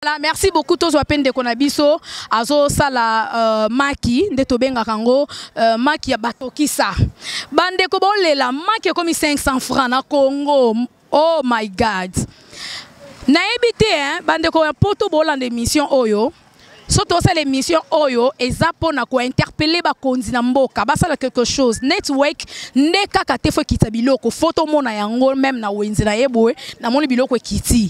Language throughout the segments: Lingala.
Voilà, merci beaucoup tozwa pe ndeko na biso azosala euh, maki nde tobengaka yango euh, maki ya batokisa bandeko bolela maki ekomi 500 francs na congo oh my god nayebi te hein, bandeko ya poto bolanda émission oyo so tosala émission oyo eza mpo na kointerpele bakonzi na mboka basala quelque chose network nde kaka te fo ekita biloko fo tomona yango meme na wenze na ye boye namoni biloko ekiti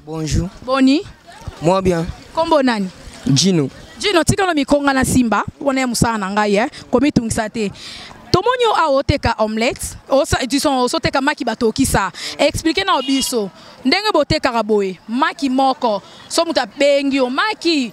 Bonjour. Boni. Moi bien. Kombo nani? Jino. Jino tikalo mikonga na simba wana ya musala na ngai eh komitungisa te tomoni yo awa oteka omelette osoteka maki batokisa explike na biso ndenge botekaka boye maki moko so moto abengi yo maki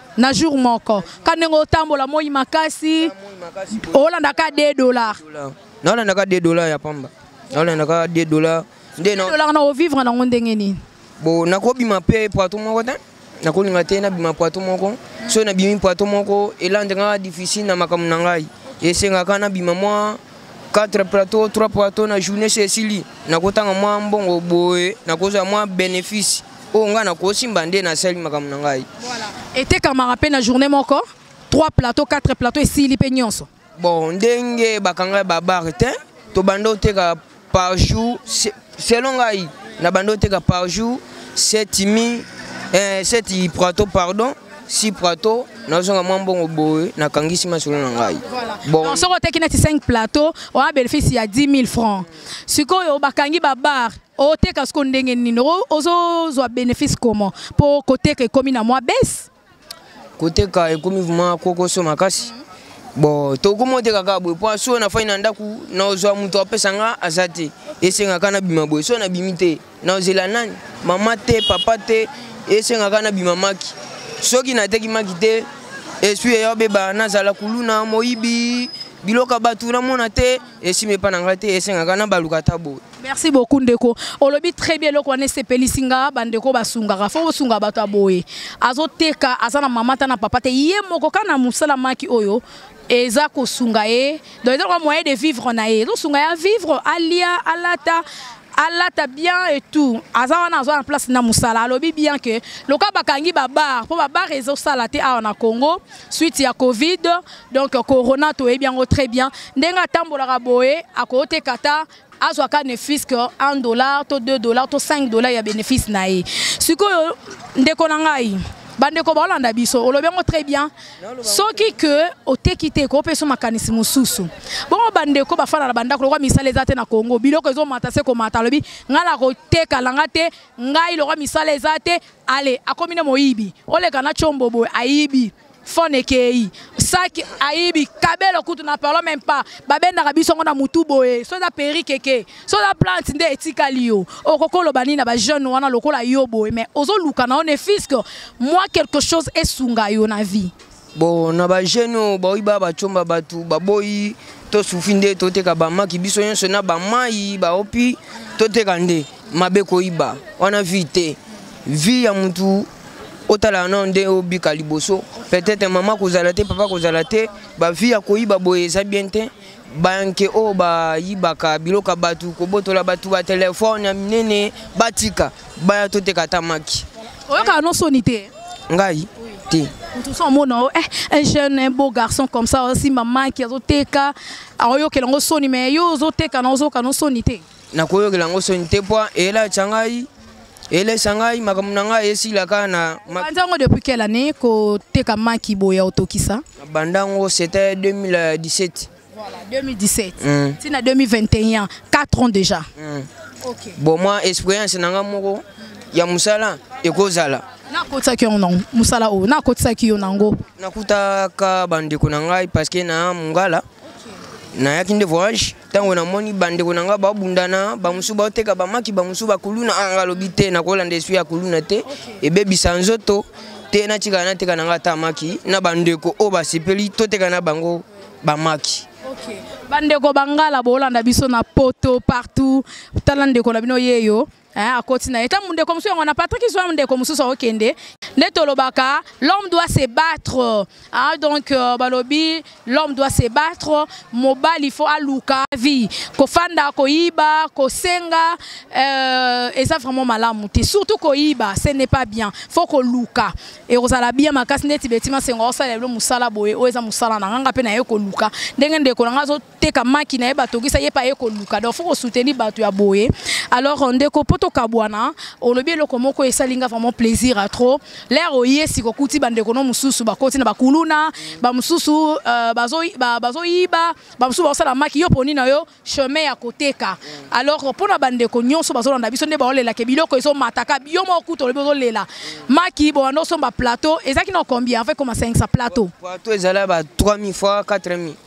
na jour moko ka ndenge otambola moi makasi olandaka 2 dollar nalandaka 2 dollar ya pamba nalandaka 2 dollar nde dollar na ovivre nango ndenge nini bo nakobima mpe poito moko te nakolinga te nabima poito moko soki nabimi poito moko elandaka difficile na makambo na ngai esengaka nabima mwa 4 plateau 3 plateau na journée se esili nakotanga mwa mbongo boye nakozwa mwa bénéfice oyo ngai nakosi mbande nasali makambo na ngai etekamaka mpe na journée moko 3 plateau 4 plateau esili mpe nyonso bon ndenge bakanga babare te tobanda oteka par jour selon ngai nabanda oteka par jour 7 mi 7 eh, prato pardon si prato nazonga mwa mbongo boye nakangisi masolo na ngai bon. soki oteki neti 5 plateau oya bénéfice ya 10 000 francs sikoyo bakangi babar oteka siko ndenge nini ozozwa bénéfice comment mpo koteka ekomi na mwa base koteka ekomi vraimen kokoso makasi bon tokomi oteka kaka boye mpo soki nafai na ndako nazwa moto apesa nga aza te esengaka nabima boye soki nabimi te nazela nani mama te papa te esengaka nabima maki soki nateki maki te esprit eya obeba nazala kuluna moyibi biloko ya bato namona te esima epa na ngai te esengaka nabaluka ata boye merci beaucoup ndeko olobi très bien eloko wana esepelisi nga bandeko basungaka fo bosunga bato ya boye azoteka aza na mama ta na papa te ye moko kaka na mosala maki oyo eza kosunga ye donc eza lokola moyen de vivre na ye ezosunga ye avivre alia alata alata bien et tout aza wana azwa na place na mosala alobi bien ke loka bakangi babar mpo babar ezosala te awa na congo suite ya covid donc corona toyebi yango très bien ndenge atambolaka boye akoteka ata azwa ka nefis que 1 dollar to 2 dollar to 5 dollar ya bénéfice na ye sikoyo ndeko na ngai bandeko baolanda biso olobi yango très bien soki ke oteki te kopesa makanisi mosusu bongo bandeko bafanda na bandako lokwa misala eza te na congo biloko ezomata se komata alobi ngai nakoteka langa te ngai lokwa misala eza te ale akomi nde moyibi oleka na combo boye ayibi fon ekei saki ayibi kabelo kutu na parlo meme pas babendaka biso yango na motu boye so eza perike eke so eza plante nde etikali yo okoki oloba nini na bajeune wana lokola yo boye mais ozoluka na yo ne fiske mwa quelque chose esunga yo na vie bon na bajeune oyo baoyi baa bacomba bato baboyi tosufi nde toteka bamaki biso nyonso na bamai baopi toteka nde mabe koyiba wana vie te vie ya motu otala nao ndenge obika liboso peut-être mama kozala te papa kozala te bavie ya koyiba boye eza bien te banke oyo bayibaka biloko ya bato kobotola bato batelefone ya minene batika baya toteka ata maki oyokaka no soni te ngai te mosusu omona o eh, un jeune un beau garçon comme ça osimba maki azoteka aoyokela yango soni mais yo ozoteka na ozoyoka no soni te nakoyokela yango soni te mpo elatya ngai elesa ngai makambo na ngai esila kaka na banza yango depuis quelle année koteka maki boye ya otokisa na banda yango c'était 2017 voilà 2017 mm. ti na 2021 4 ans déjà mm. okay. bon moi expérience na ngai moko ya mosala ekozala nakotisaki yango nango mosala oyo nakotisaki yo nango nakutaka bandeko na ngai parce que na mongala okay. nayaki nde voyage ntango namoni bandeko na ngai babundana bamosusu baoteka bamaki bamosusu bakuluna anga ah, alobi te nakolanda eswi ya kuluna te ebebisa nzoto te natikala nateka na ngai ata maki na bandeko oyo basepeli toteka na bango bamaki okay. bandeko bangala boolanda biso na poto partout tala ndeko na bino yeyo Eh, akoti na ye ta mundeko mosusu yango na patrik zwa mundeko mosusu akokende nde tolobaka l'homme doit se battre ah, donc euh, balobi l'homme doit se battre mobali faut aluka vie kofanda koyiba kosenga euh, eza vraiment malamu te surtout koyiba ce n'est pas bien faut koluka ekozala bien makasi ndeti beti masengo aosalela bino mosala boye oyo eza mosala na nganga mpe na ye koluka ndenge ndeko na ngai teka maki na ye batokisa ye mpe aye koluka donc fo kosoutenir bato ya boye alors euh, ndeko mpo tokabwana olobi eloko moko esali nga vraiment plaisir a trop lere oye sika okuti bandeko no mosusu bakoti na bakuluna bamosusu euh, bazoyiba bamosusu bakosala maki yo poni na yo chemin ya koteka alors mpo na bandeko nyonso bazolanda biso nde baolelake biloko ezomataka yo moko kutu olobi ozolela maki bobanda osomba plateau ezalaki na combien avec koma 5 plateau plateau ezala ba 3000 fois 4000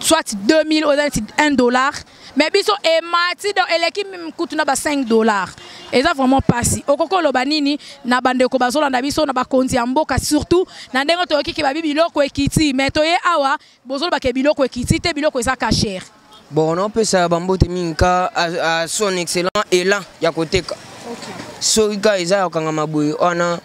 soit 2000 oza neti 1 dollar mais biso emati donc eleki kutu na ba 5 dollar eza vraiment mpasi okoki oloba nini na bandeko bazolanda biso na bakonzi ya mboka surtout na ndenge toyoki ke babi biloko ekiti mais toye awa bozoloba ke biloko ekiti te biloko eza kashere bon naopesa bambote mingi ka a son excellent elan ya koteka soki ka eza ya kokangama boye wana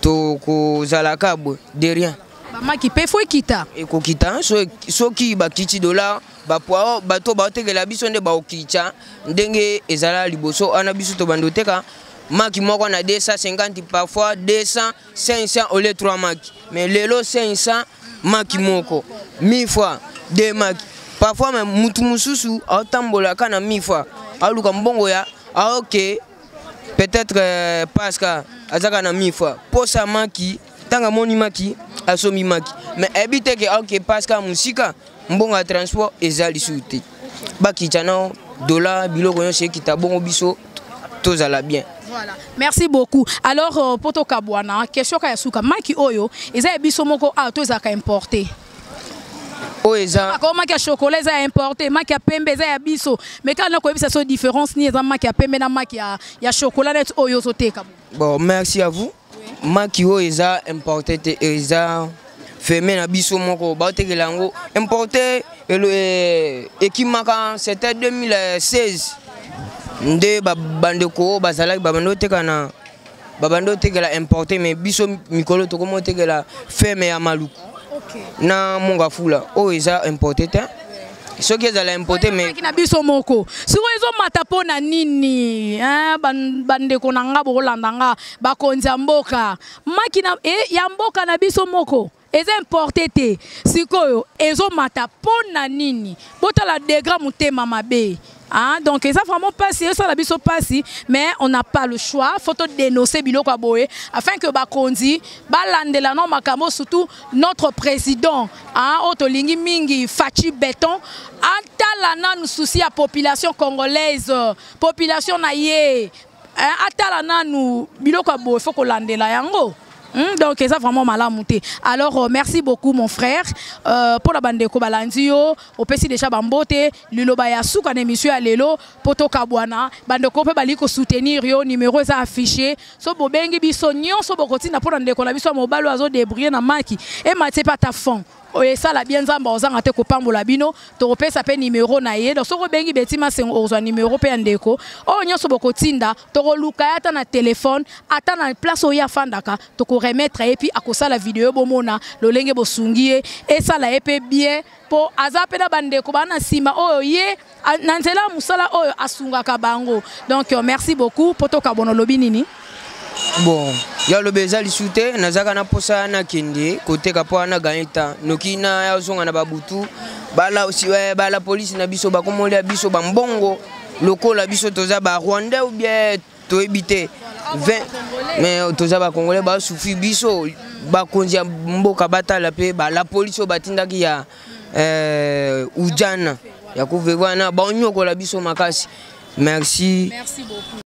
tokozalaka boye de rien bamaki mpe fo ekita ekokita soki bakiti dola bapwao bato baotekela biso nde baokitya ndenge ezala liboso wana biso tobanda oteka maki moko na 250 parfois 200 500 au lieu 3 maki mais lelo 500 maki moko 1000 fois 2 maki parfois me motu mosusu aotambolaka na 1000 fois aoluka mbongo ya aoke peut-être euh, paska azaka na 1000 fois posa maki ntango amoni maki asombi maki me ayebi te ke aoke paska mosika mbongo ya transport eza lisusu te bakita nao dola biloko nyonso ekita bongo biso tozala bien Voilà. Merci beaucoup. Alors, euh, Poto Kabwana, question kaya suka. Maki oyo, eza biso moko a to ezaka importé. Oyo eza. Ako maki ya chocolat eza importé, maki ya pembe eza ya biso. Mais quand on koyebisa so différence ni eza maki ya pembe na maki ya ya chocolat net oyo zo teka. Bon, merci à vous. maki oyo eza importe te eza feme na biso moko baotekela yango importe eh, ekimaka c'était 2016 nde bandeko oyo bazalaki babandi oteka na babandi otekela importe mais biso mikolo tokomi otekela feme ya maluku na mongafula oyo eza importe te soki ezala impote meki na biso moko sikoyo ezomata mpo na nini bandeko na nga bokolanda nga bakonzi ya mboka maki na e ya mboka na biso moko eza importe te sikoyo ezomata mpo na nini botala degra motema mabe Ah, donc eza vraiment pasi esala biso pasi mais on n'a pas le choix faut to dénoncer biloko ya boye afin que bakonzi balandela no makambo surtout notre président ah, oyo tolingi mingi faci béton atala nanu souci ya population congolaise population na ye eh, atala nanu biloko ya boye fo kolandela yango Hmm, donc eza vraiment malamu te alors euh, merci beaucoup mon frère euh, mpo na bandeko balandi yo opesi déjà bambote liloba ya suka na émission ya lelo mpo tokabwana bandeko mpe balingi kosoutenir yo numero eza affiché so bobengi biso nyonso bokotinda mpo na ndeko na biso ya mobali oyo azodebrie na maki ematye mpe ata fond esala bien nzambe ozanga te kopambola bino tokopesa mpe nimero na ye donc soki obengi beti masengo okozwa nimero mpe ya ndeko oyo nyonso bokotinda tokoluka ye ata na telefone ata na place oyo ye afandaka tokoremetre ye mpi akosala video bomona lolenge bosungi ye esala ye mpe bien mpo aza mpe na bandeko baa na nsima oyo ye Ah, na nzela ya mosala oyo asungaka bango donc euh, merci beaucoup mpo tokabona olobi nini bon ya loba eza lisu te nazalaka na mposa nakende koteka mpo wana ganye temps noki nazonga na babutu bala, eh, bala polisi na biso bakomoli ya biso bambongo lokola biso toza ba rwandais ou bien toyebi te mais toza bacongolais basufi biso bakonzi ya mboka batala mpe la polisi oyo batindaki ya euh, ujana ya kuvevana baonyokola biso makasi merci, merci beaucoup.